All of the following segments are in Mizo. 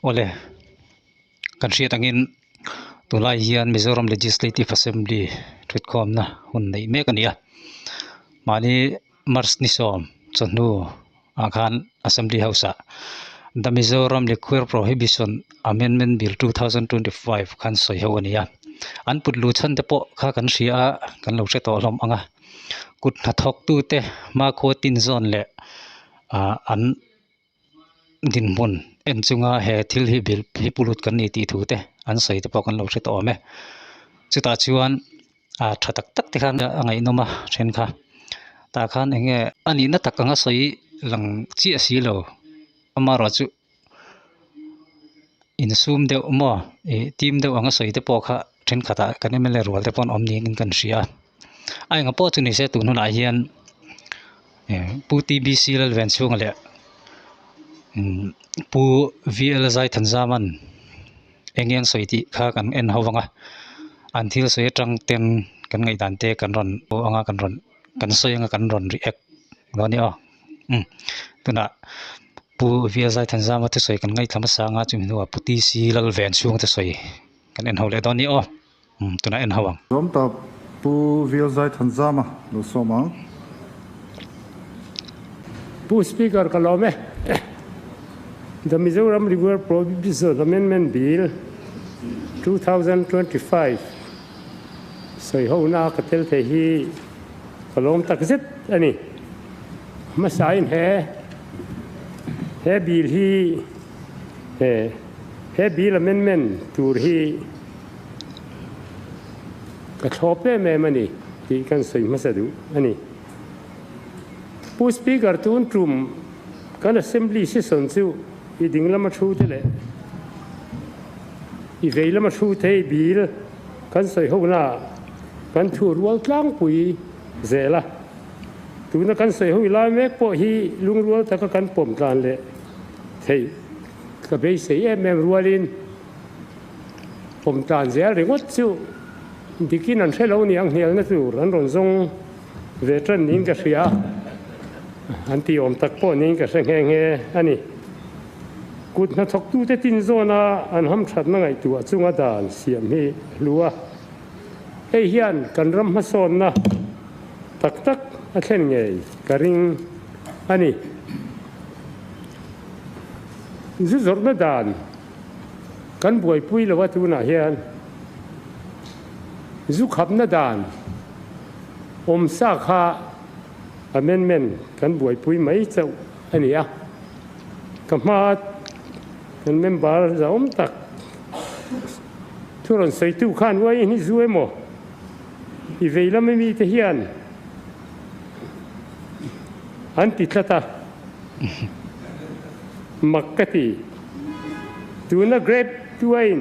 awle kan hriat angin tunlai hian mizoram legislative assembly thutkhawmna hun neih mek a ni a mahni-- March ni sawm chawhnu ah khan Assembly House ah The Mizoram Liquor Prohibition Amendment Bill, two thousand twenty five khan sawi ho a ni a, an putlu chhan te pawh kha kan hria a, kan lo hre tawh hlawm ang a, kut hnathawk tute Makua Tin Zone leh an. dinhmun en chunga he thil hi bil hi pu lut kan ni tih thu te an sawi te pawh kan lo hre tawh awm e chutah chuan a tha tak tak te khan a ngaihnawm a then kha tah khan eng nge a nihna tak anga sawi lang chiah si lo amarawh chu insum deuh maw ih tim deuh anga sawi te pawh kha. thenkhatah kan mla rual te pawh awm niin in kan hria a a engpawh chu nise tun hunah hian pu t b c lal venchhung leh pu v l zaithan zaman eng eng sawi tih kha kan en ho vang a an thil sawi atang ten kan ngaih dan te kan rawn aw anga kan rawn kan sawi anga kan rawn ri ek lo a ni aw tunah pu v l zaithan zama te sawi kan ngaihhla hmasa anga chumi hnuah pu t c lal venchhung te sawi. Kan en ho leh dawn ni aw. Umm tunah en ho ang. Zawm ta Pu Vialzai Thanzama, lo sawm ang. Pu Speaker ka lawm e. The Mizoram River Prohibition Amendment Bill two thousand twenty five sawi ho na ka tel thei hi ka lawm tak zet a ni. Hmasa in he he bill hi he. He bil a men men tur hi ka thlawp em em a ni tih kan sawi hmasa duh a ni. Pu Speaker tun tum kan Assembly session chu i ding lama thu te leh i vei lama thu tei bil kan sawi ho naah kan thu rual tlangpui zel a. Tuna kan sawi hoi lai mek pawh hi lungrual taka kan pawm tlan leh theih. Ka beisei em em rualin pawm tan zel ringawt chu bikin an hre lo nia a nghlialna tur an rawn zawng ve tan niin ka hria a, an ti awm tak pawh niin ka hre nghe nghe a ni. Kut hnathawktute tin zawna an hamthatna ngaihtuah chunga dan siam hi hlu a, hei hian kan ram hmasawnna tak tak a thlen ngei ka ring a ni. Zu zawrhna dan kan buaipui lo a tunah hian zu khapna dan awm sa kha amendment kan buaipui mai chauh a ni a. Ka hma kan member zaawm tak thu rawn sawitu khan uaih hi zu emaw i vei lama mite hian, An ti tlat a, mak ka ti. Tuna Grade Two-ain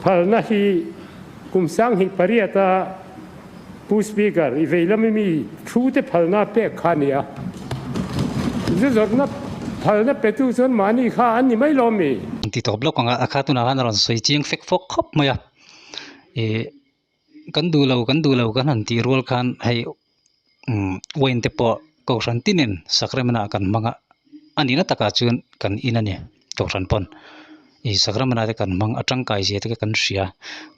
phalna hi kum sanghnih pariata Pu Speaker i veilam mi thu te phalna pek kha a ni a. Zu zawrhna phalna petu chuan mahni kha an ni mai lo mi? An ti tawp lawk ang a, a kha tunah khan a rawn sawi chiang fek fawk khawp mai a. I. Kan duh lo, kan duh lo kan han tih rual khan hei Wayne te pawh kohhran tin in Sacramento ah kan hmang a, a ni na takah chuan kan in a ni kohhran pawn i Sacramento te kan hmang a tangkai zia te kan hria,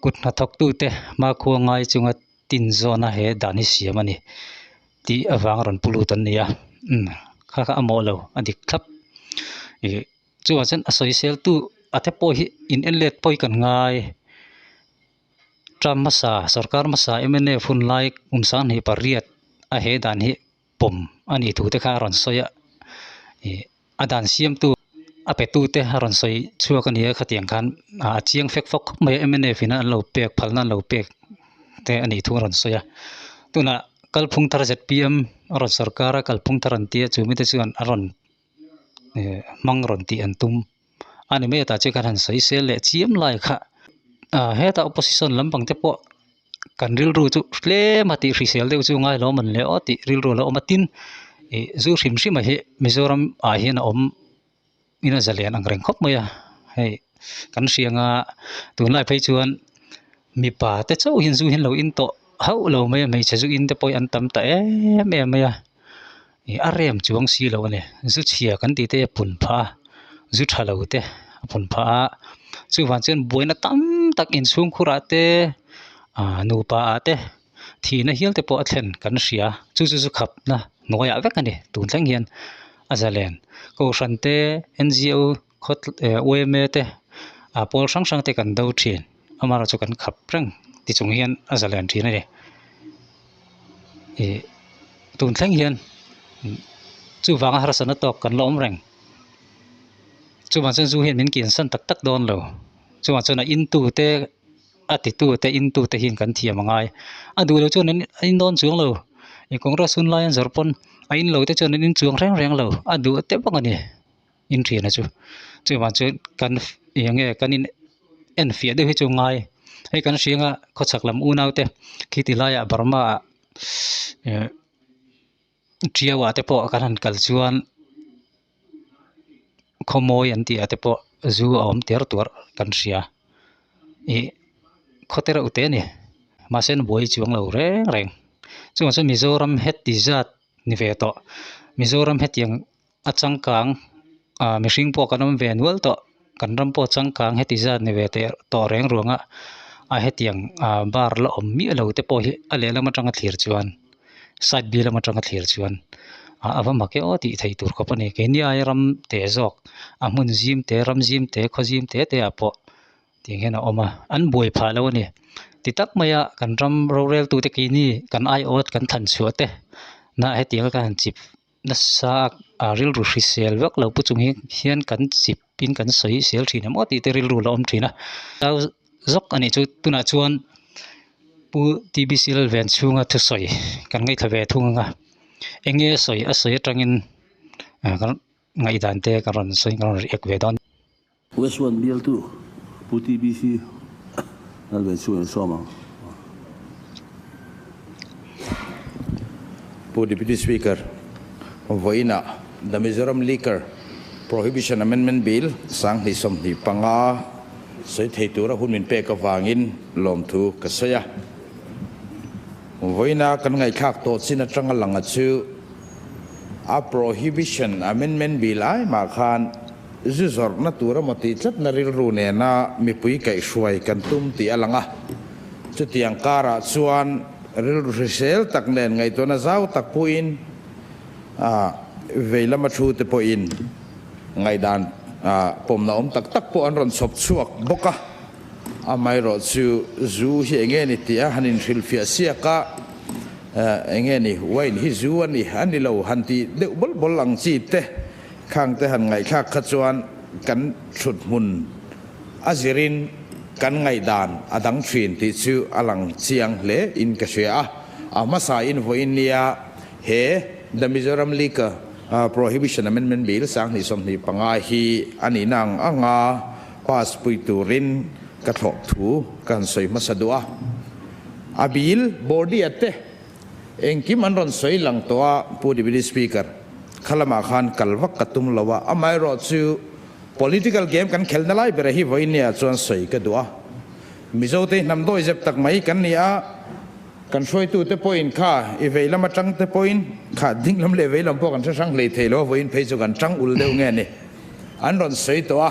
kut hnathawk tu te hma khua ngai chunga tin zawna he dan hi siam a ni tih avang a rawn pu lut an ni a, kha kha a mawh lo a dik thlap i chungah chuan a sawisel tu a te pawh hi in en let pawh hi kan ngai. Trump hmasa, sawrkar hmasa MNF hun lai hun sang hnih pariat a he dan hi pawm a nih thu te kha a rawn sawi a, ih a dan siamtu a petu te a rawn sawi chhuak a ni a khatiang khan a chiang fek fawk khawp mai a MNF ina an lo pek phalna an lo pek te a nih thu a rawn sawi a, tunah kalphung thar ZPM a rawn sawrkar a kalphung thar an ti a chu mite chuan a rawn hmang rawn tih an tum a ni mai atah chian kan han sawi sel leh chiam lai kha ah heta opposition lam pang te pawh kan rilru chu tlem a tih hrisel deuh chu ngai lo awm an leh aw tih rilru a lo awm a tin ih zu hrim hrim a hi mizoram ah hian a awm in a za lian ang reng khawp mai a hei kan hriang a tunlai phei chuan mipa te chauhin zu hi an lo in tawh hauh lo mai a hmeichhe zu in te pawh hi an tam ta em em mai a. ih a rem chuang si lo a ni zu chhia kan tih te hi a pun phah a zu tha lo te a pun phah a chuvang chuan buaina tam tak inchhungkhur ah te ah nupa ah te thihna hial te pawh a thlen kan hria chu chu chu khapna hnuaiah vek a ni tun thleng hian a zalen kohhran te N G O khaw eh uaime te ah pawl hrang hrang te kan do thin amarawh chu kan khap reng tichung hian a za lian thin a ni ih tun thleng hian chuvanga harsatna tawk kan la awm reng chumah chuan zu hian min kinsan tak tak dawn lo chungah chuan a intute a titute intute hian kan thiam a ngai a duhloh chuan an a indawn chuang lo ih kawngras hunlai an zawrh pawn a inlote chuan an inchuang reng reng lo a duh teuh bawk a ni. inrian a chu chuvang chuan kan eng nge kan in en fiah deuh hi chu ngai hei kan hrianga khawchhak lam unau te khi ti laiah Burma ah eh ṭiau ah te pawh kan han kal chuan khawmawi an tih ah te pawh zu a awm tîr tûr kan hria ih khawte reuh te a ni mahse an buai chuang lo reng reng chuvang chu Mizoram heti zat ni ve tawh Mizoram hetiang-- A changkang ah mihring pawh kan awm ve nual tawh, kan ram pawh changkang heti zat ni ve teh tawh reng ruang ah a hetiang ah bar la awm miah lo te pawh hi a lehlam atang a thlir chuan side bi lam atang a thlir chuan ah a va mak e aw tih theih tur khawp a ni. Keini aia ram teh zawk a hmun zim te ram zim te khaw zim te te ah pawh tih ang hian a awm a, an buai phah lo a ni. Ti tak mai ah kan ram rorel tute keini kan aiawt kan thanchhuah te nah hetiang a kan han chip Nasa a rilru hrisel vak lo pu chung hi hian kan chip in kan sawi sel thin em aw tih te rilru la awm thin a tau zawk a nih chu tunah chuan pu t b c lal ven chhunga thusawi kan ngaithla ve thung ang a eng nge sawi a sawi atangin kan ngaihdan te kan rawn sawi kan rawn ri ek ve dawn. Westward bialtu Pu TBC Lalveichhung en sawm ang. Pu Deputy Speaker vawiinah The Mizoram Liquor Prohibition Amendment Bill sang hnih sawmhnih panga sawi thei tura hun min pek avangin lawmthu ka sawi a. Vawiina kan ngaihthlak tawh chin atanga lang a chu. a prohibition amendment bil ai mah khan zu zawrhna tur emaw tih tlatna rilru nena mipui kaih hruai kan tum tih a lang a, chutiang karah chuan rilru hrisel tak nen ngaihtuahna zau tak pawhin a vei lama thu te pawhin ngaihdan pawmna awm tak tak pawh an rawn chhawp chhuak bawk a. Amaherawhchu chu zu hi eng nge ni tia han inhrilhfiah siak a, eng nge ni wine hi zu a ni a ni lo han ti deuh bawlh bawlh ang chi te khang te han ngaihthlak kha chuan kan thluthmun a zirin kan ngaihdan a dang thin tih chu a lang chiang hle in ka hria a, a hmasa in vawi in nia he The Mizoram Liquor Prohibition Amendment Bill sang hnih sawm hnih panga hi a nihna ang ang a Pass pui turin ka thlawp thu ka han sawi hmasa duh a. A bil, Bordia te, engkim an rawn sawi lang tawh a, Pu Deputy Speaker, kha lamah khan kal vak ka tum lo a, amaherawh chu political game kan khelna lai berah hi vawi nia chuan sawi ka duh a. Mizote hnam dawi zep tak mai kan ni a, kan hruaitute pawhin kha i veilam atangte pawhin kha dinglam leh veilam pawh kan hre hrang hlei thei lo a, vawiin phei chu kan tang ul deuh nge ni. An rawn sawi tawh a,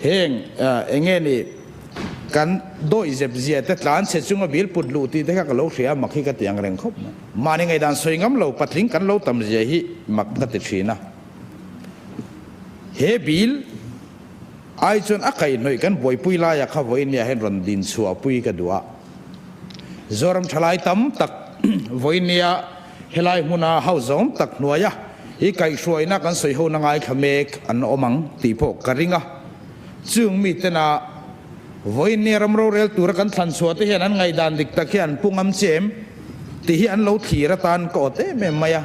heng eng nge ni kan dawi zep zia te tlan che chunga bil put luh tih te kha ka lo hria mak hi ka ti ang reng khawp mai. Mahni ngaidan sawi ngam lo patling kan lo tam zia hi mak ka ti thin a. He bil ai chuan a kaihnawih kan buaipui lai a kha vawi nia hian rawn din chhuah pui ka duh a. Zoram thalai tam tak vawi nia. Helai hmuna hau zawng tak hnuaia i kaihhruaina kan sawihona ngaithla mek an awm ang tih pawh ka ring a. Chung mitena vawinia ram rorel tura kan thlanchhuahte hian an ngaih dan dik tak hian pu ngam che em tih hi an lo thlir atan ka awt em em mai a.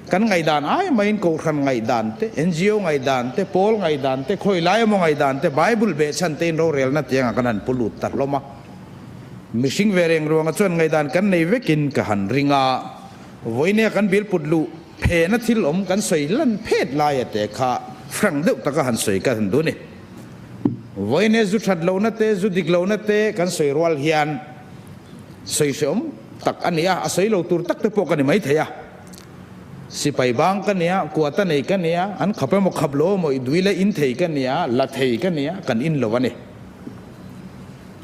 Kan ngaih dan ai maiin Kohhran ngaih dante, NGO ngaih dante, Pawl ngaih dante, Khawilai emaw ngaih dante, Bible beh chhante in rorelna tianga kan han pu lut ta hlawm a. Mihring ve reng ruanga chuan ngaihdan kan nei vekin ka han ring a, vawinia kan bilput luh phena thil awm kan sawi hlan phet laia te kha hrang deuh taka han sawi ka han duh ni. Vawinia zu that lohna te, zu dik lohna te kan sawi rual hian sawi hrehawm tak a ni a, a sawi lo tur tak te pawh ka ni mai thei a. Sipai bang ka nia, kuata nei ka nia, an khap emaw khap lo emaw i duila in thei ka nia, la thei ka nia, kan in lo a ni.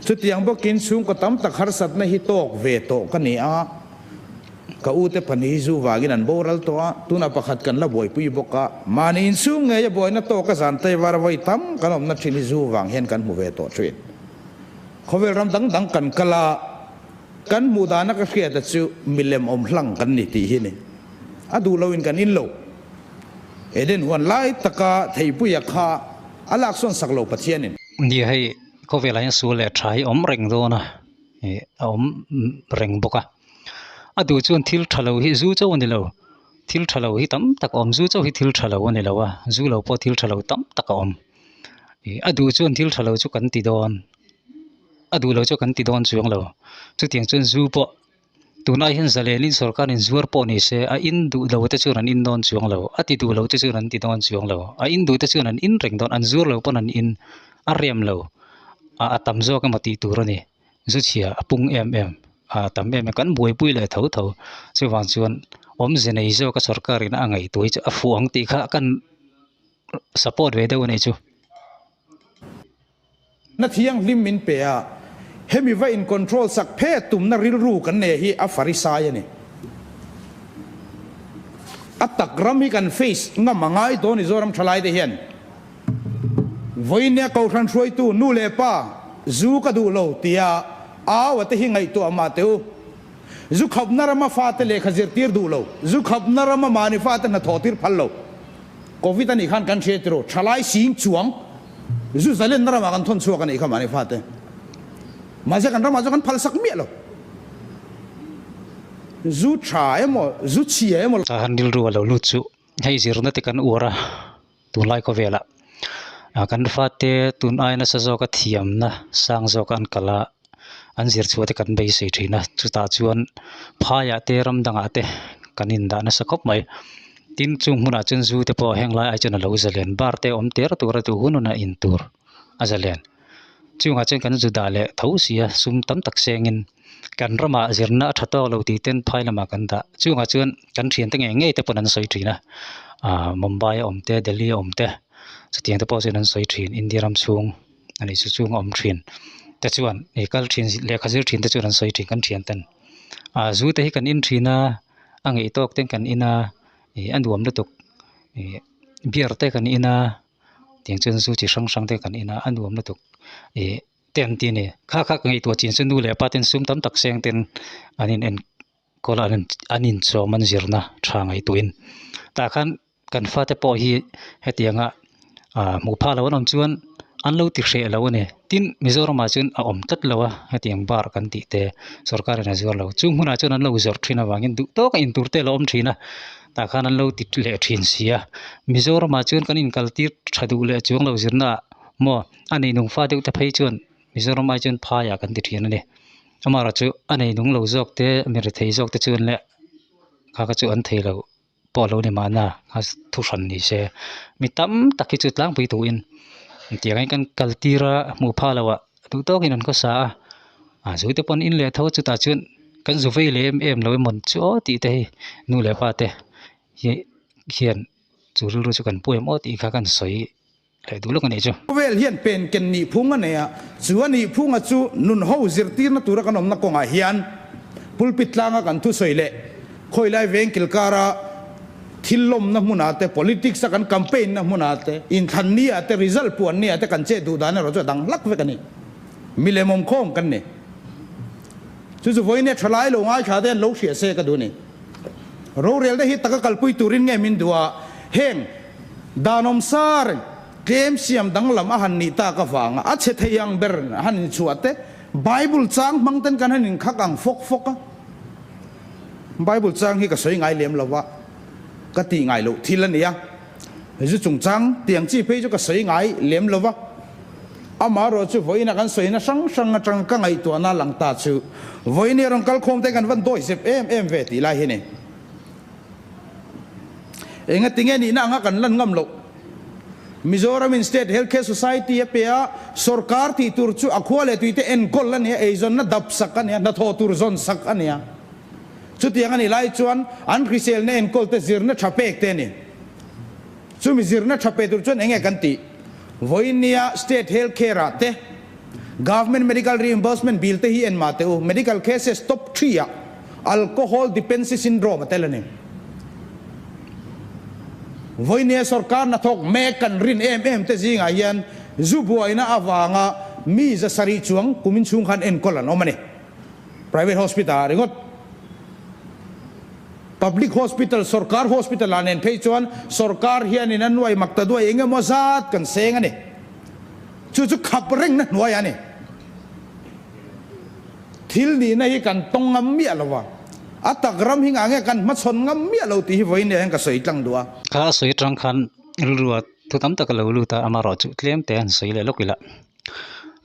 Chutiang bawkin chhungkaw tam tak harsatna hi tawk ve tawh ka ni a, ka ute pahnih hi zu vangin an boral tawh a, tuna pakhat kan la buaipui bawk a, mahni inchhung ngeia buaina tawka zan taivar vawi tam kan awmna thin hi zu vang hian kan hmu ve tawh thin. Khawvel ram dang dang kan kal a, kan hmuh dana ka hriata chu milem awm hlang kan ni tih hi ni, a duh loin kan in lo. Eden huan lai taka theipuia kha a laksawn sak lo Pathianin. India hei khawk velah hian sul leh tha hi awm reng dawn a ih a awm reng bawk a a duh chuan thil tha lo hi zu chauh a ni lo thil tha lo hi tam tak a awm zu chauh hi thil tha lo a ni lo a zu lo pawh thil tha lo tam tak a awm ih a duh chuan thil tha lo chu kan ti dawn a duh lo chu kan ti dawn chuang lo chutiang chuan zu pawh Tunah hian Zalenin sawrkarin zuar pawh ni se, a in duh lo te chuan an in dawn chuang lo, a ti duh lo te chuan an ti dawn chuang lo, a in duh te chuan an in reng dawn, an zuar lo pawn an in a riam lo, a a tam zawk emaw tih tur a ni. Zuchhia a pung em em, a a tam em em, kan buaipui leh tho tho. Chuvang chuan awmze nei zawka sawrkarin a ngaihtuai chu a fuh ang tih kha kan support ve deuh a nih chu. Na thianghlim min pe a, hemi va in control sak phet tumna rilru kan nei hi a Farisai a ni. A tak ram hi kan face ngam a ngai dawn Mizoram thalai te hian Vawinia ko hran hruaitu nu leh pa zu ka duh lo tia au ate hi ngaihtuah mah teh u. Zu khapna rama fate lehkha zirtir duh lo, zu khapna rama mahni fate hnathawhtir phal lo. Covid anih khan kan hre tiraw, thalai sing chuang Zuzaland na ramah kan thawn chhuak anih kha mahni fate, mahse kan ramah chu kan phalsak miah lo, zu tha emaw, zu chhia emaw. A han rilru a lo lut chu hei zirna te kan uar a, tunlai khawvelah kan fate tun ai nasa zawka thiamna sang zawka an kal a, an zirchhuah te kan beisei thin a chutah chuan phaiah te ramdangah te kan indah nasa khawp mai tin chung hmunah chuan zu te pawh heng laiah chuan alo zalen bar te awm teh tura duh hunhun a in tur a zalen chungah chuan kan zu dah leh tho si a sum tam tak sengin kan ramah zirna a tha tawk lo tih ten phai lamah kan dah chungah chuan kan thiante ngei ngei te pawn an sawi thin a ahh Mumbai a awm te Delhi a awm te chutiang te pawh chuan an sawi thin India ram chhung. a ni chu chunga awm thin te chuan he kal thin lehkha zir thin te chuan an sawi thin kan thian ta ni ah zu te hi kan in thin a a ngeihtawk te kan in a ih a nuam lutuk ih beer te kan in a tiang chuan zu chi hrang hrang te kan in a a nuam lutuk ih te an ti a ni kha kha ka ngaihtuah chin chu nu leh pa ten sum tam tak seng ten an in en-- Kawla an inchawm an zirna tha ngaihtuhin tah khan kan fate pawh hi hetianga hmuh phah lo an awm chuan an lo ti hreh lo a ni tin Mizoramah chuan a awm tlat lo a hetiang bar kan tih te sawrkarin a zuar lo chung hunah chuan an lo zawrh thin avangin duh tawk a intur te a lo awm thin a tah khan an lo ti leh thin si a Mizoramah chuan kan inkaltir tha duh leh chuang lo zirnaah maw a ni nung fa deuh te phei chuan Mizoram ai chuan phai ah kan ti thian a ni. Amarawh chu a nei nung lo zawk te a mi rethei zawk te chuan leh kha kha chu an thei loh pawh lo ni mahna kha thu hran ni se mi tam tak hi chu tlangpui tuin tiang in kan kal tir a hmu pha lo a duh tawk in an khaw sa a a zui te pawn in leh tho chutah chuan kan zu vei leh em em lo emaw chu aw tih te hi nu leh pa te hi hian chu rilru chu kan pu em aw tih kha kan sawi Hlei duh lawk a nih chu. Khawvel hian pen ken nih phung a nei a, chu a nih phunga chu nun ho zirtirna tura kan awmna kawngah hian pulpit tlanga kan thusawi leh khawilai veng kilkara thil lawmna hmunah te, politics a kan campaign na hmunah te, inthlan nia te, result puan nia te kan che duh dan erawh chu a dang hlak vek a ni. Milem awmkhawm kan ni. Chu chu vawinia thalai lo ngaithla te an lo hria se ka duh a ni. Rorelna hi taka kalpui turin nge min duh a, heng Danawm Sir tlem siam danglam a han nih tak avanga a chhe thei ang ber a han inchhuah teh. Bible chang hmang ten kan han inkhak ang fawk fawk a. Bible chang hi ka sawi ngai lem lo a, ka tih ngai loh thil a nia. Hei chu chungchang tiang chi phei chu ka sawi ngai lem lo va, amah erawh chu vawiina kan sawi na hrang hrang atang ka ngaihtuahna lang ta chu vawiin erawh kal khawm te kan va dawi zep em em ve tih lai hi ni. Enga tinge nihna anga kan lan ngam loh. Mizoramin State Healthcare Society a pia sorkar tih tur chu a khua leh tuite enkawl a nia, eizawnna dap sak a nia, hnathawh tur zawn sak a nia. Chutiang a nih lai chuan an hriselna enkawlte zirna tha pek te a ni. Chumi zirna tha pe tur chuan eng nge kan tih? Vawinia State Health Care-a te, Government Medical Reimbursement Bill te hi en mah teh u, Medical Cases Top Three-ah Alcohol Dependency Syndrome a tel a ni. Vawinia sorkarna thawk mek kan rin em em te zingah hian zu buaina avanga mi zasarih chuang kum inchhung khan enkawl an awm a ni. Private hospital ah ringawt public hospital sorkar hospital ah nen phei chuan sorkar hian in a nuai mak ta duai eng emaw zat kan seng a ni. Chu chu khap reng na hnuai a ni. Thil nih na hi kan tawng ngam miah lo va, a tak ram hi ngah nge kan hma chhawn ngam miah lo tih hi vawi nia hian ka sawi tlang duh a. Kha a sawi atang khan rilru ah thu tam tak a lo lut a, amarawh chu tlem te an sawi leh lawk ila.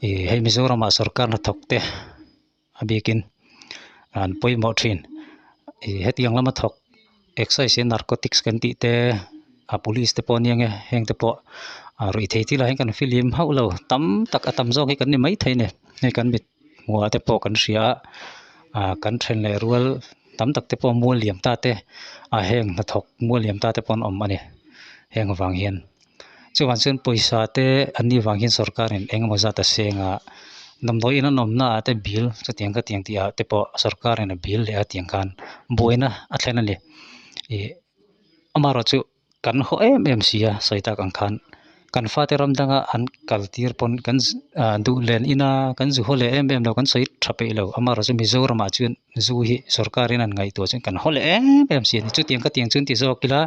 ih hei mizoram ah sorkar hna thawk te a bik in an pawimawh thin ih heti ang lama thawk excise leh narcotic kan tih te a police te pawh a nia heng te pawh a rawi thei thila an kan fill hlim hauh lo tam tak a tam zawk hi kan ni mai thei a ni hei kan mit hmuhah te pawh kan hria a ah kan then leh rual tam tak te pawh mual liam ta te a heng hna thawk mual liam ta te pawh an awm a ni heng avang hian. Chuvang chuan pawisa te an nih vang hian sorkar in eng emaw zat a seng a, damdawi in an awmna ah te bil chutiang khatiang tih ah te pawh sorkar in a bil leh a tiang khan buaina a thlen a ni. Ih amaherawh chu kan haw em em si a sawi tak ang khan kan fa te ram dang a an kal tir pawn kan duh len in a kan zu haw leh em em lo kan sawi tha peih lo amaherawh chu Mizoram ah chuan zoo hi sorkar in an ngaihtuah chuan kan haw leh em em si a ni chutiang ka tiang chu ti zawk ila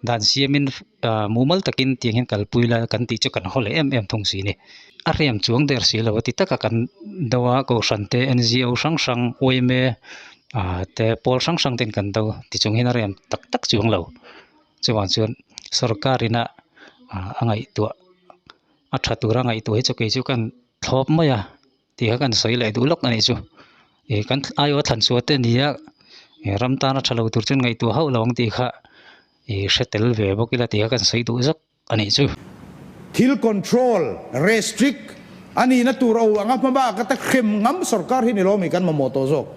dan siamin ah mumal takin tiang hian kalpui la kan tih chu kan haw leh em em thung si a ni a hriam chuang der si lo a ti taka kan do a kohhran te n g o hrang hrang awime ah te pawl hrang hrang ten kan do ti chung hi a hriam tak tak chuang lo chuvang chuan sorkar in a a ngaihtuah a tha tura ngaihtuah hi chu kei chu ka thlawp mai a. tih kha kan sawi leh duh lawk a nih chu ih kan aia thlan chhuah te nia ih ram tana tha lo tur chu ngaihtuah hauh lo ang tih kha ih hre tel ve bawk ila tih kha kan sawi duh zawk a nih chu. Thil control, restrict, a nihna tur aw anga hma bak ata hrem ngam sorkar hi ni lo ami kan mamawh tawh zawk.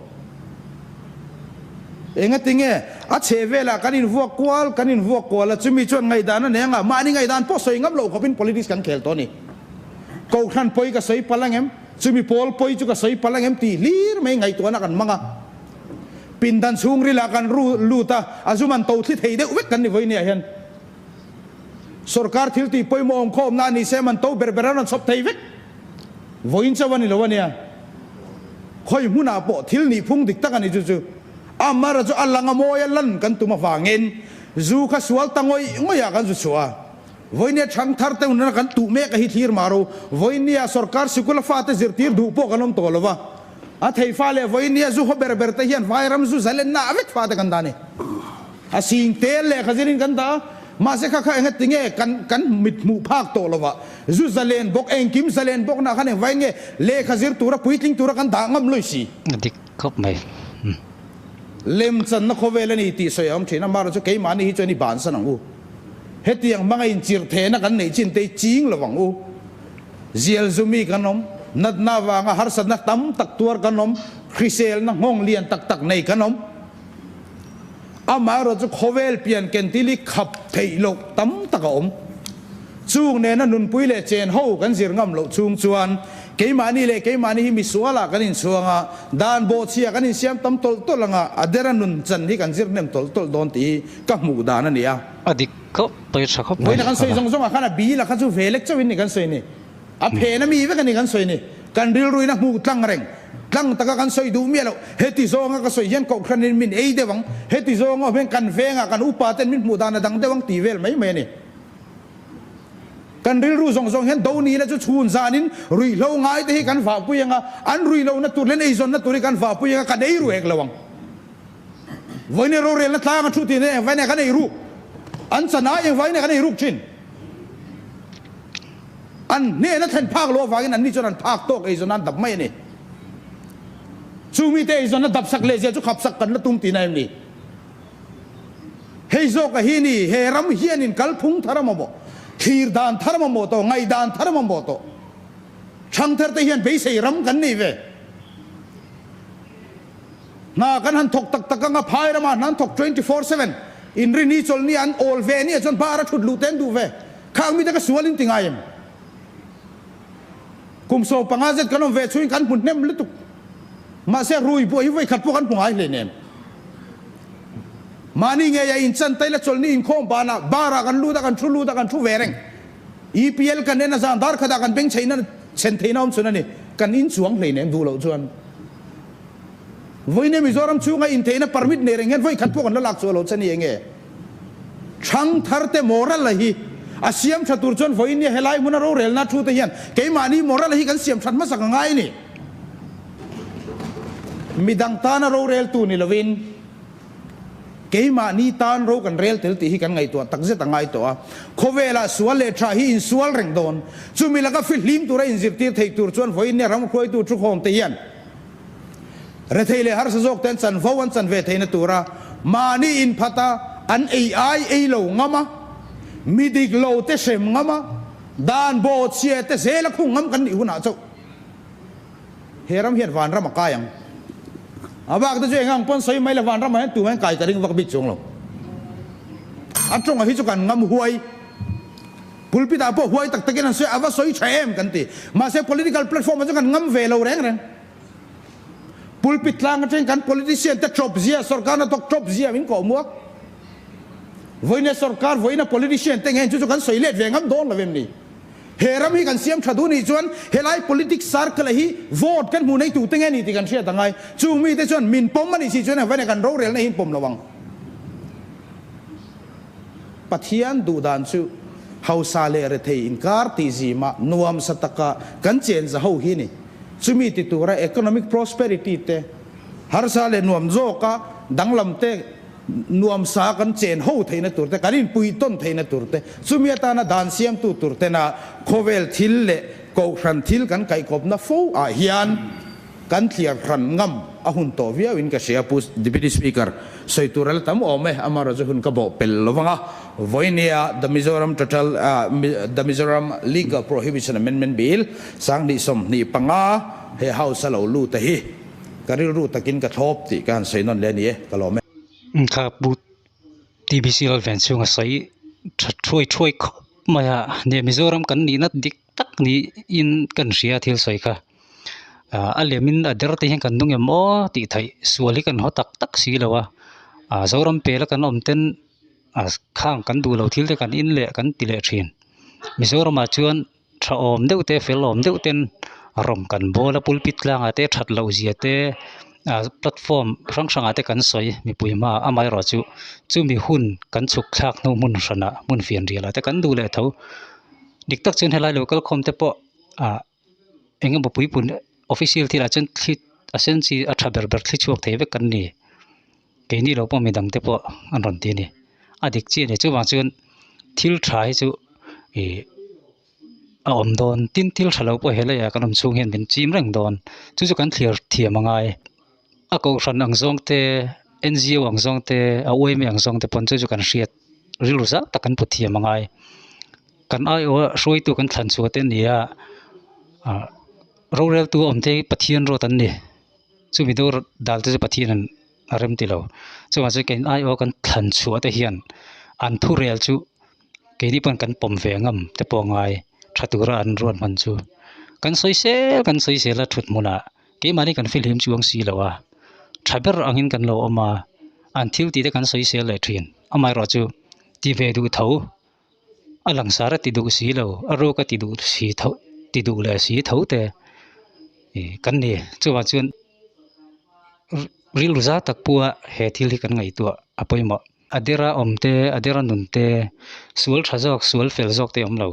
Engatinge a chhehvelah kan invuak kual, kan invuak kual a, chumi chuan ngaidana nengah mahni ngaidan pawh sawi ngam lo khawpin politics kan khel tawh a ni. Kohhran pawi ka sawi palh angem? Chumi pawl pawi chu ka sawi palh angem? Tih hlir mai ngaihtuahna kan hmang a. Pindan chhungril ah kan ru lut a, a zum an to thli thei deuh vek kan ni vawi nia hian. Sorkar thiltih pawimawh awm khaw awmna a ni se man to ber ber a rawn chhawp thei vek vawiin chauh a ni lo ania. Khawi hmun ah pawh thil nih phung dik tak a ni chu chu. Amara chu a lang a mawi a, lan kan tum avangin zu kha sual ta ngawih ngawih ah kan zu chhuah a. Vawinia chhang thar te hunna kan tuh mek a hi thlir mah ro. Vawinia sorkar sikul a fate zirtir duh pawh kan awm tawh lova. A thei fa leh vawinia zu haw ber ber te hian vairam zu zal enna a vek fate kan dah ani. A sing tel lehkha zir in kan dah a, mahse kha kha enga tinge kan kan mit hmuh phak tawh lova. Zu zalen bawk, engkim zalen bawknah khan engvai nge lehkha zir tura puitling tura kan dah ngam lawih si? A dik khawp mai umm. Lem channa khawvel a ni tih sawi a awm thin a, mahra chu keimahni hi chuan i bansan ang u. Hetiang hmanga inchirh thehna kan neih chin te hi ching lo vang u. Zialzu mi kan awm, natna avanga harsatna tam tak tuar kan awm, hriselna nghawng lian tak tak nei kan awm. Amah erawh chu khawvel pian kentili khap theih loh tam tak a awm. Chung nena nunpui leh chen ho kan zir ngam loh chhung chuan keimahni leh keimahni hi misuala kan inchhuang a, dan bawhchhia kan insiam tam tawlh tawlh anga a dera nun chan hi kan zir hnem tawlh tawlh dawn tih hi ka hmuh dan a ni a. A dik khawp, tawi tha khawp mai. Vawiin a kan sawi zawng zawng ah khan a bil a kha chu ve lek chauhin ni kan sawi ni. A phen ami vek a ni kan sawi ni. Kan rilruina hmuh tlang reng. Tlang taka kan sawi duh miah loh. Heti zawnga ka sawi hian Kohhranin min ei deuh ang. Heti zawng awm hian kan vengah kan upa ten min hmuh dan a dang deuh ang ti vel mai mai a ni. Kan rilru zawng zawng hian do nihna chu chhun zanin ruihhlo ngai te hi kan vahpui ang a. An ruihlohna tur leh an eizawnna tur hi kan vahpui ang a, kan ei ruh hek lo ang. Vawineia rorelna tlang a thu ti nen engvainei ka nei ruk? An chan ai engvainei ka nei ruk chin? An hnehna thlen phak loh avangin anni chuan an phak tawk eizawnna an dap mai a ni. Chung mite eizawnna dapsak leh zia chu khapsak kan la tum ti na em ni? Hei zawk a hi ni, he ram hianin kal phung thar a mamawh, thlir dan thar a mamawh tawh, ngaih dan thar a mamawh tawh. Thangtherte hian beisei ram kan nei ve. Hna kan han thawk tak tak anga phai ram ah hna an thawk twenty four seven in ri ni chawl nia an awl ve nia chuan bar a thut luh te an duh ve khang mi te ka sual in ti ngai em kum so panga zet kan awm ve chungin kan hmu hnem lutuk mahse rui buai hi vawikhat pawh kan hmu ngai hle nem mahni ngei a inchan taila chawl ni inkhawm ban ah bar ah kan lut a kan thu lut a kan thu ve reng EPL kan en a zan darkhat ah kan beng chheina chhen theihna awm chhun a ni kan in chuang hle nem duh loh chuan. Vawiin Mizoram chhunga intheihna permit nei reng hian vawi khat pawh kan la lak chu a lo chani eng e? Thangtharte Morala hi a siam tha tur chuan vawiin nia helai hmuna rorelna a thu te hian keimahni Morala hi kan siam that hmasak a ngai a ni. Midang tana roreltu ni lovin Keimahni tan ro kan rel tel tih hi kan ngaihtuah takzet a ngai tawh a, khawvela sual leh tha hi insual reng dawn. Chumi laka fi hlim tura inzirtir theih tur chuan vawinia ram hruaitu thuhawmte hian Rethei leh harsa zawkte an chanvo an chan ve theihna tura mahni inphata an ei ai ei lo ngam a, mi dik lo te hrem ngam a, dan bo chhia te zela khung ngam kan nih hunah chauh. He ram hian vanram a kai ang. A bak te chu eng ang pawn sawi mai le, vanram ah hian tumah hian kai ka ring vak bik chu ang lo. A tawngah hi chu kan ngam huai. Pulpit ah pawh huai tak tak in an sawi a, a va sawi tha em kan ti. Mahse political platform ah chu kan ngam ve lo reng reng. Pulpit tlang atangin kan politician te tawp zia, sorkar na tawk tawp zia min koh muak. Vawiin he sorkar vawiina politician te ngei chu chu kan sawi let ve ngam dawn lo em ni? He ram hi kan siam tha duh nih chuan helai politics sar kala hi vote kan hmuh nei tute nge ni tih kan hriat angai. Chung mite chuan min pawm a nih si chuan avena kan rorelna hi pawm lo ang. Pathian duh dan chu hausa leh rethei inkar tih zima nuam sa taka kan chen za ho hi a ni. Chumi ti tura economic prosperity te harsa leh nuam zawka danglam te, nuam sa kan chen ho theihna tur te, kan inpui tawn theihna tur te, chumi atana dan siamtu tur tena khawvel thil leh kohhran thil kan kaikawpna fo ah hian kan thliar hran ngam a hun tawh viau in ka hria a pu Deputy Speaker sawi tur a la tam awm e, amah erawh chu hun ka bawh pel lo vang a, Voinia The Mizoram Total The Mizoram Legal Prohibition Amendment Bill, Sanghnihsawm hnih panga he House a lo lut a hi. Ka rilru takin ka thlawp tih ka han sawi nawn leh a ni e, ka lawm e. Ka pu TBC lal veng chhung a sawi tha thuai thuai khawp mai a ni. Mizoram kan nih nat dik tak niin ka ni hria thil sawi kha. A lem in a der te hian kan nung em maw tih theih sual hi ka ni haw tak tak si lo a. Zoram pela kan awm ten khang kan duh lo thil te kan in leh kan ti leh thin. Mizoram ah chuan tha awm deuh te fel awm deuh ten rawn kan bawla pulpit tlangah te that loh zia te ah platform hrang hrangah te kan sawi mipui hma amaherawhchu chu chumi hun kan chhuk thlak hnu hmun hrana hmun fian rialah te kan duh leh tho dik tak chuan helai lo kal khawm te pawh ah eng emaw puipunna official thil ah chuan thli a senchi a tha ber ber thli chhuak thei vek an ni. Keini lo pawh midang te pawh an rawn ti a ni. A dik chiah leh chuvang chuan thil tha hi chu ih a awm dawn tin thil tha lo pawh helai a kan awm chhung hian min chim reng dawn chu chu kan thlir thiam a ngai. A kohhran ang zawng te NGO ang zawng te a uaimi ang zawng te pawn chu chu kan hriat rilru zah tak kan pu thiam a ngai. Kan aiawha hruaitu kan thlan chhuah te nia ah roreltu a awm te hi Pathian rawt an ni. Chumi dur dalte chu Pathianin a rem tilo. Chungah chuan keihin aiawh kan thlan chhuah te hian an thurel chu keini pawn kan pawm ve ngam te pawh ngai tha tura an ruat hman chu kan sawi sel kan sawi sel a thut hmunah keimahni kan fihlim chuang si lo a, tha ber angin kan lo awm a, an thil tite kan sawi sel leh thin amaherawhchu ti ve duh tho. A langsar a ti duh si lo, a ruk a ti duh si tho ti duh leh si tho te kan ni. Chuvang chuan rilruza tak pua he thil hi kan ngaihtuah a pawimawh. A dera awm te, a dera nun te, sual tha zawk, sual fel zawk te a awm lo.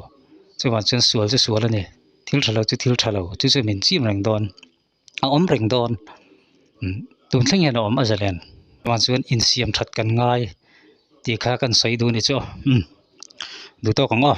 Chuvang chuan sual chu sual a ni, thil tha lo chu thil tha lo, chu chu min chim reng dawn. a awm reng dawn tun thlengin a awm a ze len tah chuan insiam that kan ngai tih kha kan sawi duh ni chu duh tawk ang aw.